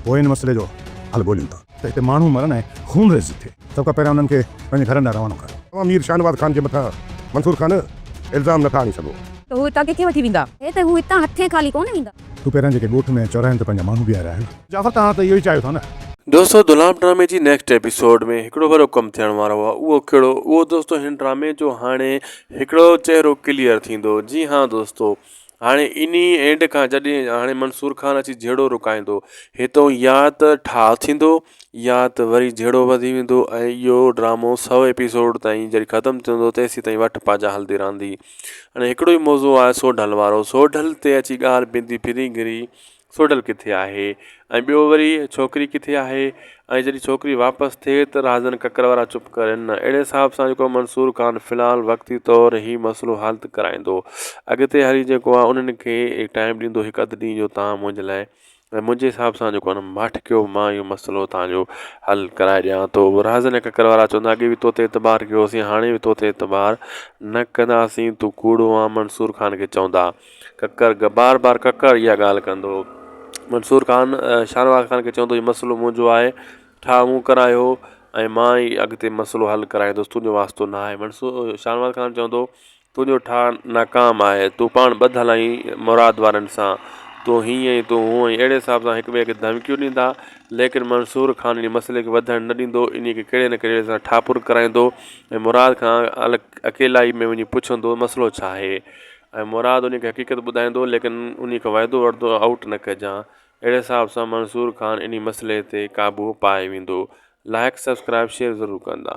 پوء ان مسئلي جو حل ڳوليون ٿا. ته هتي ماڻهو مرن ۽ خونريزي ٿئي. سڀ کان پهريان انهن کي پنهنجي گهرن ڏانهن روانو ڪر. توهان مير شاهنواز خان جي مٿان منصور خان الزام نٿا آڻي سگهو. ته هو هتان ڪٿي وٺي ويندا. هي ته هو هتان هٿين خالي ڪونه ويندا. تون پهريان جيڪي ڳوٺ ۾ چوراهن تي پنهنجا ماڻهو بيهاريا آهن. جعفر توهان ته اهو ئي چاهيو ٿا نه. دوستو دلام ڊرامي جي نيڪسٽ ايپيسوڊ ۾ هڪڙو وڏو ڪم ٿيڻ وارو آهي اهو ڪهڙو اهو دوستو هن ڊرامي جو هاڻي هڪڙو چهرو ڪليئر ٿيندو جي ها دوستو هاڻي انهيء اينڊ کان جڏهن هاڻي منصور خان اچي جهيڙو رڪائيندو، هتئون يا ته ٺاهه ٿيندو يا ته وري جهيڙو وڌي ويندو ۽ اهو ڊرامو سؤ ايپيسوڊ تائين جڏهن ختم ٿيندو تيسيتائين وٺ پاجا هلندي رهندي. هاڻي هڪڙو ئي موضوع آهي سوڍل وارو. سوڍل تي اچي ڳالهه پيندي ڦري گهري سوڍل ڪٿي آهي ۽ ٻيو وري ڇوڪري ڪٿي آهي ۽ جڏهن ڇوڪري واپس ٿئي ته رهزن ڪڪر وارا چپ ڪرين نه اهڙي حساب سان جيڪو منصور خان في الحال وقتي طور هي مسئلو حل ته ڪرائيندو اڳتي هلي جيڪو آهي انهن کي ٽائيم ڏيندو هڪ اڌ ڏينهن جو تان منهنجي لاء ۽ منهنجي حساب سان جيڪو آهي ماٺ ڪيو مان اهو مسئلو تان جو حل ڪرائي ڏيان ٿو رهزن ۽ ڪڪر وارا چوندا اڳي به تو تي اعتبار ڪيو هوسين هاڻي به تو تي اعتبار نه ڪنداسين تون ڪوڙو آهين منصور خان کي چوندا ڪڪر گهه بار بار ڪڪر اها ڳالهه ڪندو هو. منصور خان شاهنواز خان کي چوندو هو هي مسئلو منهنجو آهي، ٺاهه مون ڪرايو هو ۽ مان ئي اڳتي مسئلو حل ڪرائيندس، تنهنجو واسطو نه آهي. منصور شاهنواز خان چوندو هو تنهنجو ٺاهه ناڪام آهي، تون پاڻ ٻڌ هلائين مراد وارن سان، تون هينئن ۽ تون هونئن اهڙي حساب سان هڪٻئي کي ڌمڪيون ڏيندا. ليڪن منصور خان انهيء مسئلي کي وڌڻ نه ڏيندو هو، انهيء کي ڪهڙي نه ڪهڙي سان ٺاهه پر ڪرائيندو هو ۽ مراد کان اڪيلائي ۾ وڃي پڇندو هو مسئلو ڇا آهي؟ ۽ مراد انهيء کي حقيقت ٻڌائيندو، ليڪن انهيء کي وعدو وعدو آئوٽ نه ڪجان، اهڙي حساب سان منصور خان انهي مسئلي تي قابو پائي ويندو. لائيڪ سبسڪرائيب شيئر ضرور ڪندا.